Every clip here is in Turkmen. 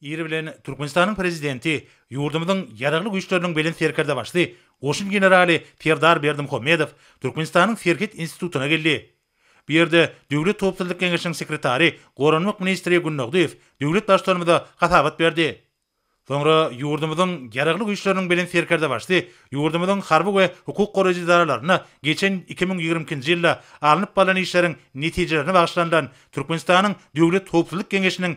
Iri bilen Türkmenistanyň Prezidenti ýurdumyzyň Ýaragly Güýçleriniň Belent Serkerdebaşy goşun generaly Serdar Berdimuhamedow Türkmenistanyň Serhet institutyna geldi. Bu ýerde Döwlet howpsuzlyk geňeşiniň sekretary, goranmak ministri Günnagdyýew döwlet Baştutanymyza hasabat berdi. Soňra ýurdumyzyň Ýaragly Güýçleriniň Belent Serkerdebaşy ýurdumyzyň harby we hukuk goraýjy edaralaryna geçen iki müň ýigrimi ikinji ýylda alnyp barlan işleriň netijelerine bagyşlanylan Türkmenistanyň Döwlet howpsuzlyk geňeşiniň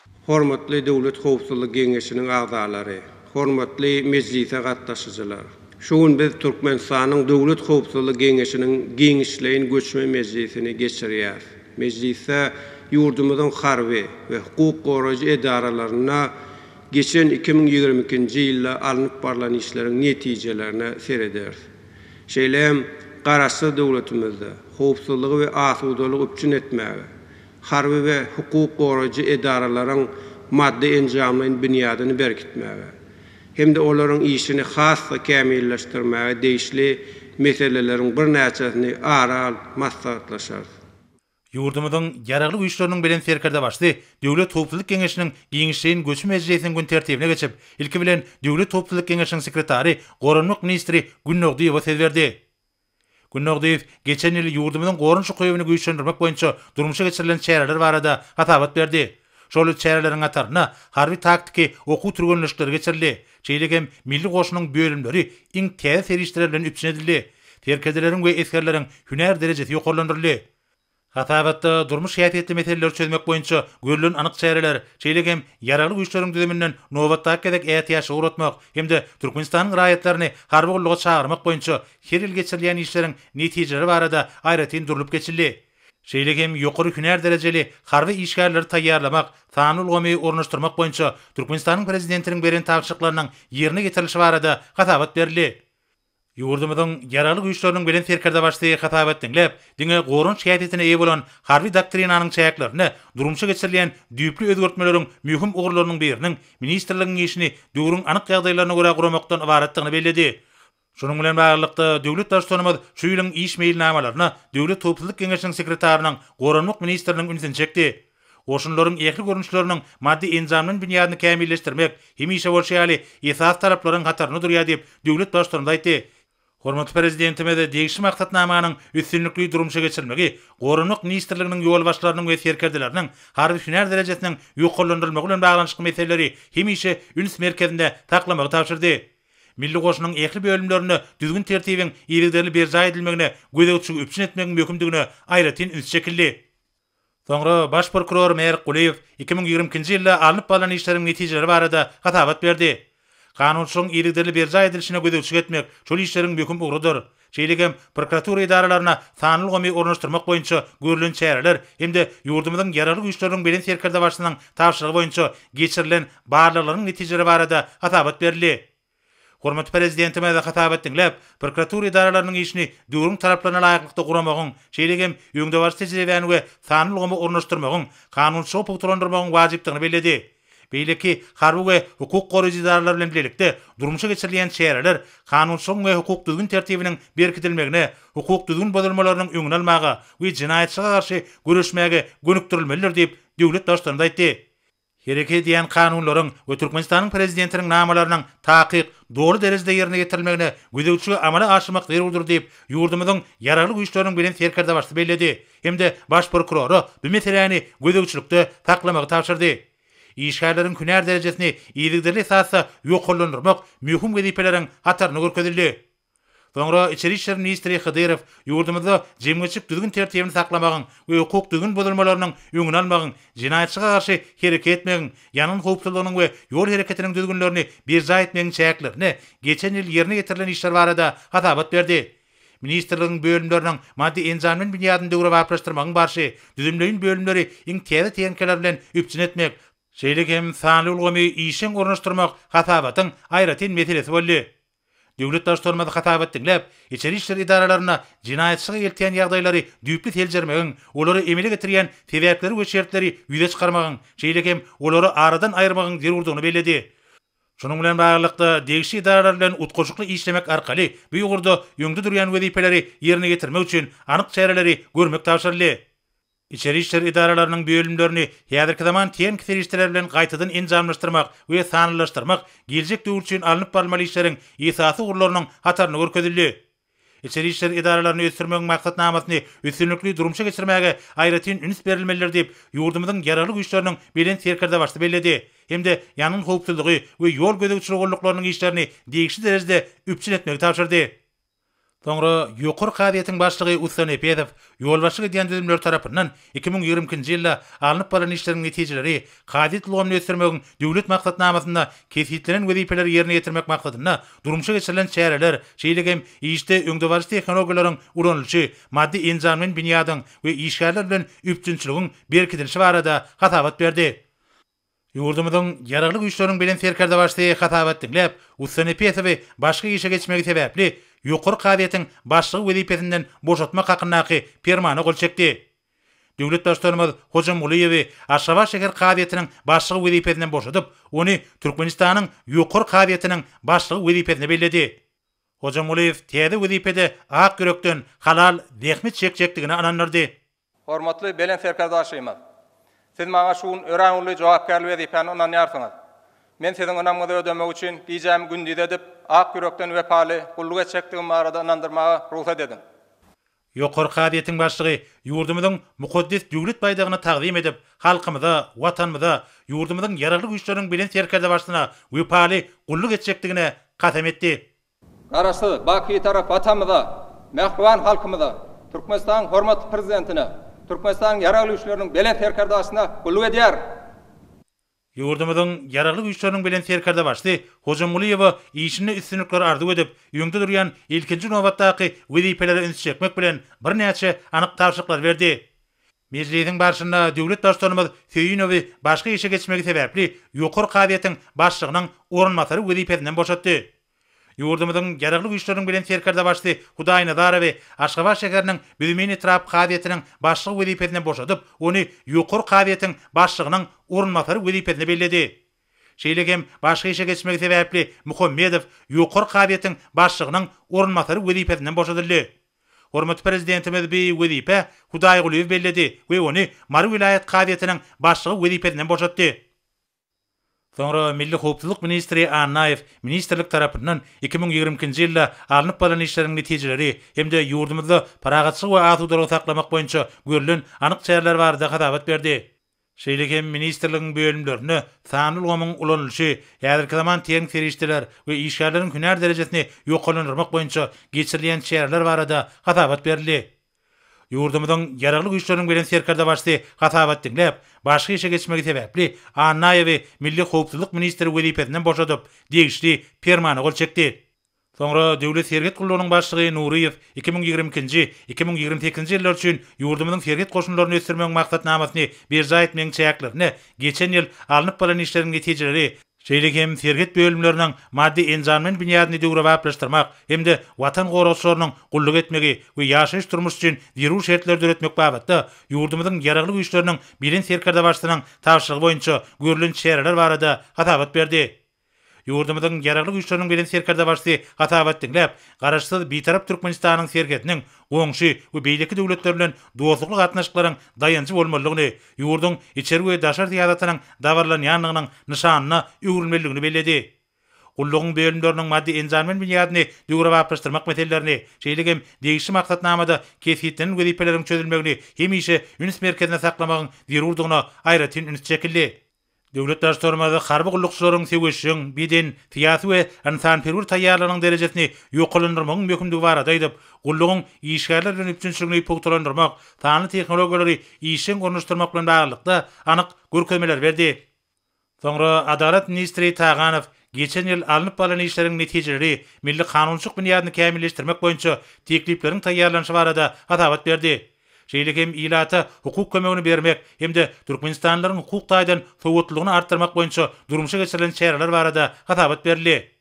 Hormatly Döwlet howpsuzlyk geňeşiniň agzalary, hormatly mejlise gatnaşyjylar! Şu gün biz Türkmenistanyň Döwlet howpsuzlyk geňeşiniň giňişleýin göçme mejlisini geçirýäris. Mejlisde ýurdumyzyň harby we hukuk goraýjy edaralarynda geçen iki müň ýigrimi ikinji ýylda alnyp barlan işleriň netijelerine serederis. Şeýle hem Garaşsyz döwletimizde howpsuzlygy we asudalygy üpjün etmäge, harby we hukuk goraýjy edaralaryň maddy-enjamlaýyn binýadyny berkitmäge hem-de olaryň işini has-da kämilleşdirmäge degişli meseleleriň birnäçesini ara alyp maslahatlaşarys. Ýurdumyzyň Ýaragly Güýçleriniň Bilen Serkerdebaşy Döwlet howpsuzlyk geňeşiniň giňişleýin göçme mejlisiniň gün tertibine geçip, ilki bilen, Döwlet howpsuzlyk geňeşiniň sekretary, goranmak ministri Günnogdyýewa söz berdi. Gün Nurdyýew geçen ýyl ýurdumyzyň goranyş ukybyny güýçlendirmek boýunça durmuşa geçirilen çäreler barada hasabat berdi. Şol çäreleriň hatarynda harby-taktiki okuw türgenleşikleri geçirildi. Şeýle hem milli goşunyň bölümleri iň täze serişdeler bilen üpjün edildi. Serkerdeleriň we esgerleriň hünär derejesi ýokarlandyryldy. Hasabatda durmuş häsiýetli meseleleri çözmek boýunça görlen anyk çäreler, şeýle hem Ýaragly Güýçleriň düzüminden nobatdaky gezek ätiýaçlygy uratmak hem-de Türkmenistanyň raýatlaryny harby gulluga çagyrmak boýunça her ýyl geçirilýän işleriň netijeleri barada aýratyn durlup geçildi. Şeýle hem ýokary hünär derejeli harby işgärleri taýýarlamak, sanly ulgamy ornaşdyrmak boýunça Türkmenistanyň Prezidentiniň beren tabşyryklarynyň ýerine ýetirilişi barada hasabat berildi. Ýurdumyzyň Ýaragly Güýçleriniň Belent Serkerdebaşysy hasabat diňläp, diňe goranç häsiýetine eýe bolan Harby doktrinanyň çäklerinde durmuşa geçirilýän düýpli özgertmeleriň möhüm ugurlarynyň biriniň ministrligiň işini döwrüň anyk ýagdaýlaryna görä guramakdan ybaratdygyny belledi. Şunuň bilen baglylykda, döwlet Baştutanymyz şu ýylyň iş meýilnamalaryna Döwlet howpsuzlyk geňeşiniň sekretarynyň Goranmak ministriniň ünsüni çekdi. Goşunlaryň ähli görnüşleriniň maddy-enjamly binýadyny kämilleşdirmek, hemişe bolşy ýaly, esasy talaplaryň hatarynda durýar diýip, döwlet Baştutanymyz aýtdy. Hormatly Prezidentimiz degişli maksatnamanyň üstünlikli durmuşa geçirilmegi Goranmak ministrliginiň ýolbaşçylarynyň we serkerdeleriniň harby-hünär derejesiniň ýokarlandyrylmagy bilen baglanyşykly meseleleri hemişe üns merkezinde saklamagy tabşyrdy. Milli goşunyň ähli bölümlerinde düzgün-tertibiň yzygiderli berjaý edilmegine gözegçiligi üpjün etmegiň möhümdigine aýratyn üns çekildi. Soňra baş prokuror Merk Gulyýew iki müň ýigrimi ikinji ýylda alnyp barlan işleriň netijeleri barada hasabat berdi. Kanunçylygyň yzygiderli berjaý edilişine gözegçilik etmek şol işleriň möhüm ugrudyr. Şeýle hem prokuratura edaralaryna sanly ulgamy ornaşdyrmak boýunça görlen çäreler hem-de ýurdumyzyň Ýaragly Güýçleriniň Belent Serkerdebaşysynyň tabşyrygy boýunça geçirilen barlaglaryň netijeleri barada hasabat berildi. Hormatly Prezidentimiz hasabat diňläp, prokuratura edaralarynyň işini döwrüň talaplaryna laýyklykda guramagyň, şeýle hem öňdebaryjy tejribäni we sanly ulgamy ornaşdyrmagyň, kanunçylygy pugtalandyrmagyň wajypdygyny belledi. Beýleki harby we hukuk goraýjy edaralar bilen bilelikde durmuşa geçirilýän çäreler kanunçylygyň we hukuk-düzgün tertibiniň berkidilmegine, hukuk düzgün bozulmalarynyň öňüni almaga we jenaýatçylyga garşy göreşmäge gönükdirilmelidir diýip, döwlet Baştutanymyz aýtdy. hereket edýän kanunlaryň we Türkmenistanyň Prezidentiniň namalarynyň takyk, doly derejede ýerine ýetirilmegine gözegçiligi amala aşyrmak zerurdyr diýip, ýurdumyzyň Ýaragly Güýçleriniň Belent Serkerdebaşysy belledi hem-de Baş prokurora bu meseläni gözegçilikde saklamagy tabşyrdy. Işgärleriň hünär derejesini yzygiderli esasda ýokarlandyrmak möhüm wezipeleriň hatarynda görkezildi. Soňra içeri işler ministri Hydyrow ýurdumyzda jemgyýetçilik düzgün-tertibini saklamagyň we hukuk düzgün bozulmalarynyň öňüni almagyň, jenaýatçylyga garşy hereket etmegiň, ýangyn howpsuzlygynyň we ýol hereketiniň düzgünlerini berjaý etmegiň çäklerinde geçen ýyl ýerine ýetirilen işler barada hasabat berdi. Ministrligiň bölümleriniň maddy-enjamleýin binýadyny döwrebaplaşdyrmagyň barşy, düzümleýin bölümleri iň täze tehnikalar bilen üpjün etmek, şeýle hem sanly ulgamy işjeň ornaşdyrmak hasabatyň aýratyn meselesi boldy. Döwlet Baştutanymyz hasabat diňläp, içeri işler edaralarynda jenaýatçylyga eltýän ýagdaýlary düýpli seljermegiň, olary emele getirýän sebäpleri we şertleri ýüze çykarmagyň, şeýle hem olary aradan aýyrmagyň zerurdygyny belledi. Şunuň bilen baglylykda, degişli edaralar bilen utgaşykly işlemek arkaly bu ugurda öňde durýan wezipeleri ýerine ýetirmek üçin anyk çäreleri görmek tabşyryldy. Içeri işler edaralarynyň bölümlerini häzirki zaman tehniki serişdeler bilen gaýtadan enjamlaşdyrmak we sanlylaşdyrmak geljek döwür üçin alnyp barylmaly işleriň esasy ugurlarynyň hatarynda görkezildi. Içeri işler edaralaryny ösdürmegiň maksatnamasyny üstünlikli durmuşa geçirmäge aýratyn üns berilmelidir diýip, ýurdumyzyň Ýaragly Güýçleriniň Belent Serkerdebaşy belledi hem-de ýangyn howpsuzlygy we ýol gözegçiligi gulluklarynyň işlerini degişli derejede üpjün etmegi tabşyrdy. Soňra Ýokary kazyýetiň başlygy Ussa Nepezow ýolbaşçylyk edýän düzümleri tarapyndan iki müň ýigrimi ikinji ýylda alnyp barlan işleriň netijeleri, kazyýet ulgamyny ösdürmegiň Döwlet maksatnamasynda kesgitlenen wezipeleri ýerine ýetirmek maksadynda durmuşa geçirilen çäreler, şeýle hem işde öňdebaryjy tehnologiýalaryň ulanylyşy, maddy-enjamlaýyn binýadyň we işgärler bilen üpjünçiligiň berkidilişi barada hasabat berdi. Ýurdumyzyň Ýaragly Güýçleriniň Belent Serkerdebaşysy hasabat diňläp, ussa Nepesowy başga işe geçmegi sebäpli Ýokary kazyýetiň başlygy wezipesinden boşatmak hakyndaky Permana gol çekdi. Döwlet Baştutanymyz Hojamgulyýewi Aşgabat şäher kazyýetiniň başlygy wezipesinden boşadyp, ony Türkmenistanyň Ýokary kazyýetiniň başlygy wezipesine belledi. Hojamgulyýew täze wezipede ak ýürekden halal zähmet çekjekdigine ynandyrdy. Hormatly Belent Serkerdaşymyz! Siz maňa şu gün örän uly jogapkärli wezipäni ynanýarsyňyz. Men siziň ynamyňyzy ödemek üçin gijämi gündiz edip, ak ýürekden wepaly gulluk etjekdigim barada ynandyrmaga rugsat ediň. Ýokary kazyýetiň başlygy ýurdumyzyň mukaddes Döwlet baýdagyny tagzym edip, halkymyza, Watanymyza, ýurdumyzyň Ýaragly Güýçleriniň Belent Serkerdebaşysyna wepaly gulluk etjekdigine kasam etdi. Garaşsyz, baky Bitarap Atamyza, mähriban halkymyza, Türkmenistanyň hormatly Prezidentine, Türkmenistanyň Ýaragly Güýçleriniň Belent Serkerdasyna gulluk edýärin! Ýurdumyzyň Ýaragly Güýçleriniň Belent Serkerdebaşysy Hojamgulyýewa işinde üstünlikler arzuw edip, öňde durýan ilkinji nobatdaky wezipelere üns çekmek bilen, birnäçe anyk tabşyryklary berdi. Mejlisiň barşynda döwlet Baştutanymyz Söýünowy başga işe geçmegi sebäpli Ýokary kazyýetiň başlygynyň orunbasary wezipesinden boşatdy. Ýurdumyzyň Ýaragly Güýçleriniň Belent Serkerdebaşysy Hudaýnazarowy Aşgabat şäheriniň Büzmeýin etrap kazyýetiniň başlygy wezipesinden boşadyp, ony Ýokary kazyýetiň başlygynyň orunbasary wezipesine belledi. Şeýle hem başga işe geçmegi sebäpli Muhammedow Ýokary kazyýetiň başlygynyň orunbasary wezipesinden boşadyldy. Hormatly Prezidentimiz bi wezipä Hudaýgulyýewi belledi we ony Mary welaýat kazyýetiniň başlygy wezipesinden boşatdy. Soňra milli howpsuzlyk ministri Annaýew ministrlik tarapyndan iki müň ýigrimi ikinji ýylda alnyp barlan işleriň netijeleri hem-de ýurdumyzda parahatçylygy we asudalygy saklamak boýunça görlen anyk çäreler barada hasabat berdi. Şeýle hem ministrligiň bölümlerinde sanly ulgamyň ulanylyşy, häzirki zaman tehniki serişdeler we işgärleriň hünär derejesini ýokarlandyrmak boýunça geçirilýän çäreler barada hasabat berildi. Ýurdumyzyň Ýaragly Güýçleriniň Belent Serkerdebaşysy hasabat diňläp, başga işe geçmegi sebäpli Annaýewi milli howpsuzlyk ministri wezipesinden boşadyp, degişli Permana gol çekdi. Soňra Döwlet serhet gullugynyň başlygy Nuryýew iki müň ýigrimi ikinji, iki müň ýigrimi sekizinji ýyllar üçin ýurdumyzyň serhet goşunlaryny ösdürmegiň maksatnamasyny berjaý etmegiň çäklerinde geçen ýyl alnyp baran işleriň netijeleri, şeýle hem serhet bölümleriniň maddy-enjamlaýyn binýadyny döwrebaplaşdyrmak hem-de Watan goragçylarynyň gulluk etmegi we ýaşaýyş-durmuş üçin zerur şertleri döretmek babatda ýurdumyzyň Ýaragly Güýçleriniň Belent Serkerdebaşysynyň tabşyrygy boýunça görlen çäreler barada hasabat berdi. Ýurdumyzyň Ýaragly Güýçleriniň Belent Serkerdebaşysy hasabat diňläp, Garaşsyz, Bitarap Türkmenistanyň serhediniň goňşy we beýleki döwletler bilen dostlukly gatnaşyklaryň daýanjy bolmalydygyny, ýurduň içeri we daşary syýasatynyň dabaralanýandygynyň nyşanyna öwrülmelidigini belledi. Gullugyň bölümleriniň maddy-enjamlaýyn binýadyny döwrebaplaşdyrmak meselelerini, şeýle hem degişli maksatnamada kesgitlenen wezipeleriň çözülmegini hemişe üns merkezinde saklamagyň zerurdygyna aýratyn üns çekildi. Döwlet Baştutanymyz harby gullukçylaryň söweşjeň, beden, syýasy we ynsanperwer taýýarlygynyň derejesini ýokarlandyrmagyň möhümdigi barada aýdyp, gullugyň işgärler bilen üpjünçiligini pugtalandyrmak, sanly tehnologiýalary işjeň ornaşdyrmak bilen baglylykda anyk görkezmeleri berdi. Soňra Adalat ministri Taganow geçen ýyl alnyp barlan işleriň netijeleri, milli kanunçylyk binýadyny kämilleşdirmek boýunça teklipleriň taýýarlanyşy barada hasabat berdi. şeýle hem ilata hukuk kömegini bermek hem-de türkmenistanlylaryň hukuk taýdan sowatlylygyny artdyrmak boýunça durmuşa geçirilen çäreler barada hasabat berildi.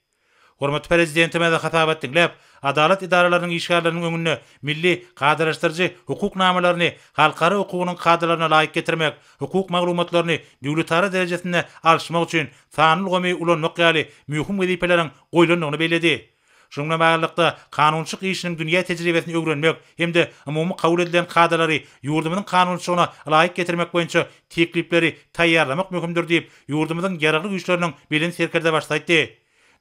Hormatly Prezidentimiz hasabat diňläp, adalat edaralarynyň işgärleriniň öňünde milli kadalaşdyryjy hukuk namalaryny halkara hukugynyň kadalaryna laýyk getirmek, hukuk maglumatlaryny döwletara derejesinde alyşmak üçin sanly ulgamy ulanmak ýaly möhüm wezipeleriň goýlandygyny belledi. Şunuň bilen baglylykda, kanunçylyk işiniň dünýä tejribesini öwrenmek hem-de umumy kabul edilen kadalary ýurdumyzyň kanunçylygyna laýyk getirmek boýunça teklipleri taýýarlamak möhümdir diýip, ýurdumyzyň Ýaragly Güýçleriniň Belent Serkerdebaşysy aýtdy.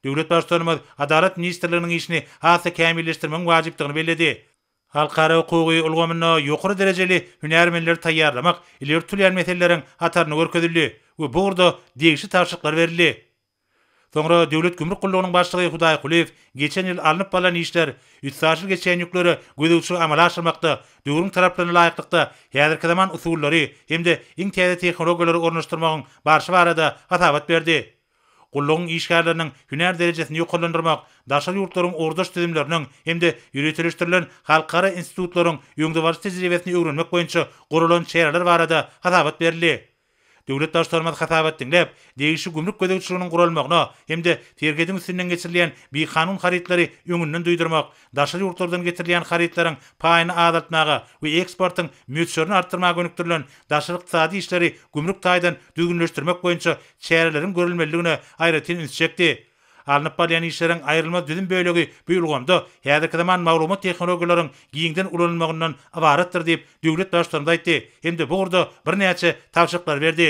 Döwlet Baştutanymyz Adalat ministrliginiň işini has-da kämilleşdirmegiň wajypdygyny belledi. Halkara hukugy ulgamynda ýokary derejeli hünärmenleri taýýarlamak ileri tutulýan meseleleriň hatarynda görkezildi we bu ugurda degişli tabşyryklar berildi. Soňra Döwlet gümrük gullugynyň başlygy Hudaý Kulyýew geçen ýyl alnyp barlan işler, üstaşyr geçýän ýükleri gözegçilik amala aşyrmakda, döwrüň talaplaryna laýyklykda häzirki zaman usullary hem-de iň täze tehnologiýalary ornaşdyrmagyň barşy barada hasabat berdi. Gullugyň işgärleriniň hünär derejesini ýokarlandyrmak, daşary ýurtlaryň ugurdaş düzümleriniň hem-de ýöriteleşdirilen halkara institutlaryň öňdebaryjy tejribesini öwrenmek boýunça guralan çäreler barada hasabat berildi. Döwlet Baştutanymyz hasabat diňläp, degişli gümrük gözegçiliginiň guralmagyna hem-de serhediň üstünden geçirilýän bikanun harytlary öňünden duýdurmak, daşary ýurtlardan getirilýän harytlaryň paýyny azaltmaga we eksportyň möçberini artdyrmaga gönükdirilen daşary ykdysady işleri gümrük taýdan düzgünleşdirmek boýunça çäreleriň görülmelidigine aýratyn üns çekdi. Alnyp barylýan işleriň aýrylmaz düzüm bölegi bu ulgamda häzirki zaman maglumat tehnologiýalaryň giňden ulanylmagyndan ybaratdyr diýip, döwlet Baştutanymyz aýtdy hem-de bu ugurda birnäçe tabşyryklary berdi.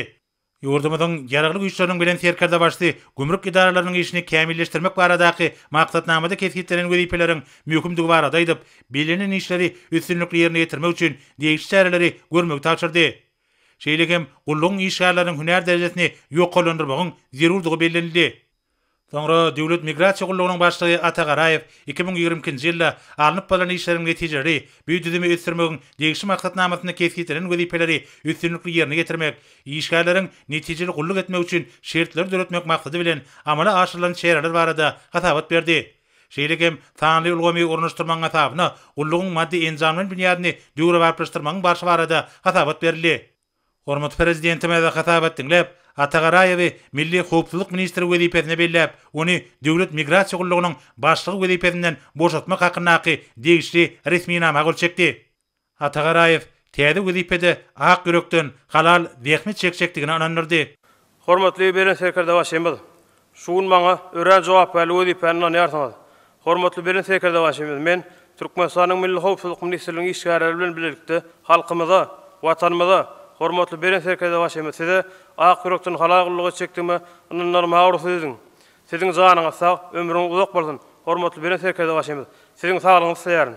Ýurdumyzyň Ýaragly Güýçleriniň bilen Serkerdebaşysy gümrük edaralarynyň işini kämilleşdirmek baradaky maksatnamada kesgitlenen wezipeleriň möhümdigi barada aýdyp, bellenilen işleri üstünlikli ýerine ýetirmek üçin degişli çäreleri görmegi tabşyrdy. Şeýle hem gullugyň işgärleriniň hünär derejesini ýokarlandyrmagyň zerurdygy bellenildi. Soňra Döwlet migrasiýa gullugynyň başlygy Ata Garaýew iki müň ýigrimi ikinji ýylda alnyp barlan işleriň netijeleri, bu düzümi ösdürmegiň degişli maksatnamasynda kesgitlenen wezipeleri üstünlikli ýerine ýetirmek, işgärleriň netijeli gulluk etmegi üçin şertleri döretmek maksady bilen amala aşyrylan çäreler barada hasabat berdi. Şeýle hem, sanly ulgamy ornaşdyrmagyň hasabyna gullugyň maddy-enjamlaýyn binýadyny döwrebaplaşdyrmagyň barşy barada hasabat berildi. Hormatly Prezidentimiz hasabat diňläp, Atagaraýewi Milli howpsuzlyk ministri wezipesine belläp, ony Döwlet migrasiýa gullugynyň başlygy wezipesinden boşatmak hakyndaky degişli resminama gol çekdi. Atagaraýew täze wezipede ak ýürekden, halal zähmet çekjekdigine ynandyrdy. Hormatly Belent Serkerde Başymyz! Şu gün maňa örän jogapkärli wezipäni ynanýarsyňyz. Hormatly Belent Serkerde Başymyz, men Türkmenistanyň Milli howpsuzlyk ministrliginiň işgärleri bilen bilelikde halkymyza, Watanymyza, hormatly Belent Serkerde Başymyz, size ak ýürekden halal gulluk etjekdigime ynandyrmaga rugsat ediň. Siziň janyňyz sag, ömrüňiz uzak bolsun, hormatly Belent Serkerde Başymyz! Siziň saglygyňyzy isleýärin.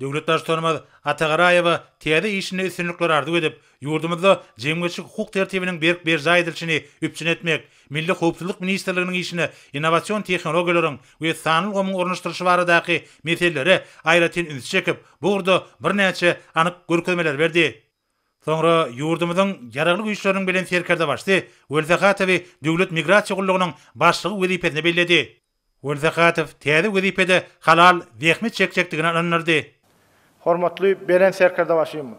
Döwlet Baştutanymyz Atagaraýewa täze işinde üstünlikler arzuw edip, ýurdumyzda jemgyýetçilik-hukuk tertibiniň berk berjaý edilişini üpjün etmek, Milli howpsuzlyk ministrliginiň işine innowasion tehnologiýalaryň we sanly ulgamyň ornaşdyrylyşy baradaky meselelere aýratyn üns çekip, bu ugurda birnäçe anyk görkezmeleri berdi. Soňra ýurdumyzyň Ýaragly Güýçleriniň Bilen Serkerdebaşysy Welsahatowy Döwlet migrasiýa gullugynyň başlygy wezipesine belledi. Welsahatow täze wezipede halal zähmet çekjekdigine ynandyrdy. Hormatly Belent Serkerdebaşym!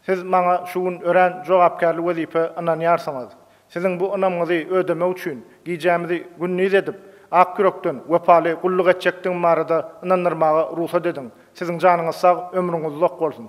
Siz maňa şu gün örän jogapkärli wezipe ynanýarsyňyz. Siziň bu ynamyňyzy ödemek üçin gijämizi gündiz edip, ak ýürekden, wepaly gulluk etjekdigim barada ynandyrmaga rugsat ediň. Siziň janyňyz sag, ömrüňiz uzak bolsun!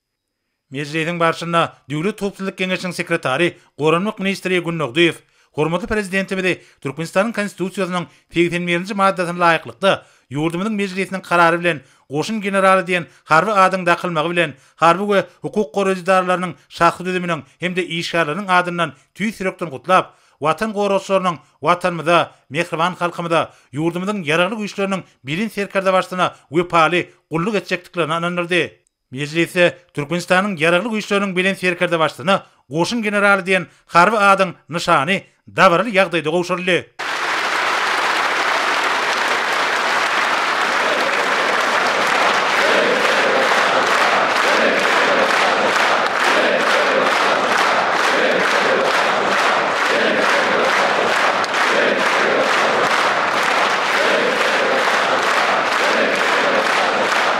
Mejlisiň barşynda Döwlet howpsuzlyk geňeşiniň sekretary, goranmak ministri Gündogdyýew hormatly Prezidentimizi Türkmenistanyň Konstitusiýasynyň segsen birinji maddasyna laýyklykda, ýurdumyzyň Mejlisiniň karary bilen goşun generaly diýen harby adyň dakylmagy bilen harby we hukuk goraýjy edaralarynyň şahsy düzüminiň hem-de işgärleriniň adyndan tüýs ýürekden gutlap, Watan goragçylarynyň Watanymyza, mähriban halkymyza, ýurdumyzyň Ýaragly Güýçleriniň Belent Serkerdebaşysyna wepaly gulluk etjekdiklerine ynandyrdy. Mejlisde Türkmenistanyň Ýaragly Güýçleriniň Belent Serkerdebaştuny, Goşun generaly diýen harby adyň nyşany dabaraly ýagdaýda gowşuryldy.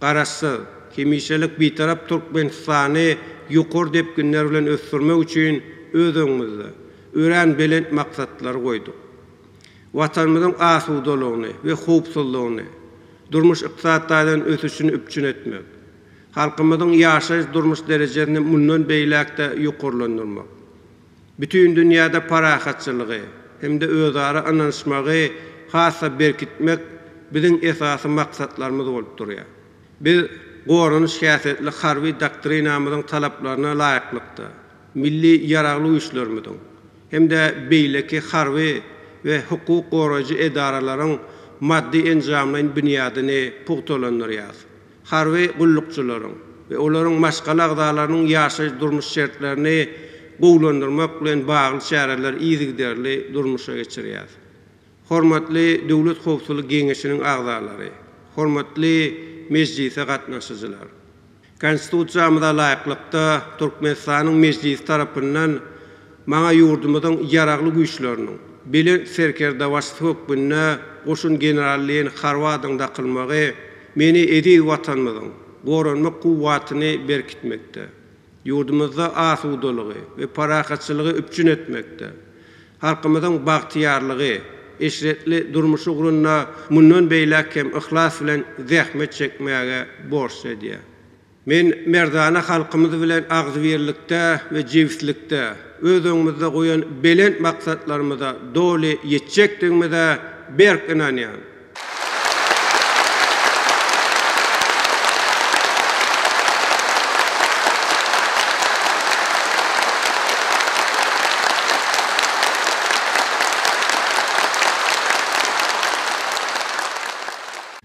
Garaşsyz, hemişelik Bitarap Türkmenistany ýokary depginler bilen ösdürmek üçin öz öňümizde örän belent maksatlary goýduk. Watanymyzyň asudalygyny we howpsuzlygyny, durmuş-ykdysady taýdan ösüşini üpjün etmek, halkymyzyň ýaşaýyş-durmuş derejesini mundan beýläk-de ýokarlandyrmak, Bütin dünýäde parahatçylygy hem-de özara ynanyşmagy has-da berkitmek biziň esasy maksatlarymyz bolup durýar. Biz goranyş häsiýetli harby doktrinamyzyň talaplaryna laýyklykda, milli Ýaragly Güýçlerimiziň hem-de beýleki harby we hukuk goraýjy edaralaryň maddy-enjamlaýyn binýadyny pugtalandyrýarys. harby gullukçylaryň we olaryň maşgala agzalarynyň ýaşaýyş-durmuş şertlerini gowulandyrmak bilen bagly çäreleri yzygiderli durmuşa geçirýär. Hormatly Döwlet howpsuzlyk geňeşiniň agzalary, hormatly mejlise gatnaşyjylar! Konstitusiýamyza laýyklykda, Türkmenistanyň Mejlisi tarapyndan Maňa ýurdumyzyň Ýaragly Güýçleriniň Belent Serkerdebaşysy hökmünde goşun general-leýen Harwadyň dakylmagy meni eziz Watanymyzyň goranmak kuwwatyny berkitmekde, ýurdumyzda asudalygy we parahatçylygy üpjün etmekde, halkymyzyň bagtyýarlygy, eşretli durmuşy ugrunda mundan beýläk hem yhlas bilen zähmet çekmäge borçly edýär. Men merdana halkymyz bilen agzybirlikde we jebislikde öz öňümizde goýan belent maksatlarymyza doly ýetjekdigimize berk ynanýan.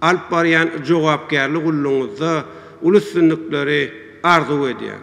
Alyp barýan jogapkärli gullugyňyzda uly üstünlikleri arzuw edýän.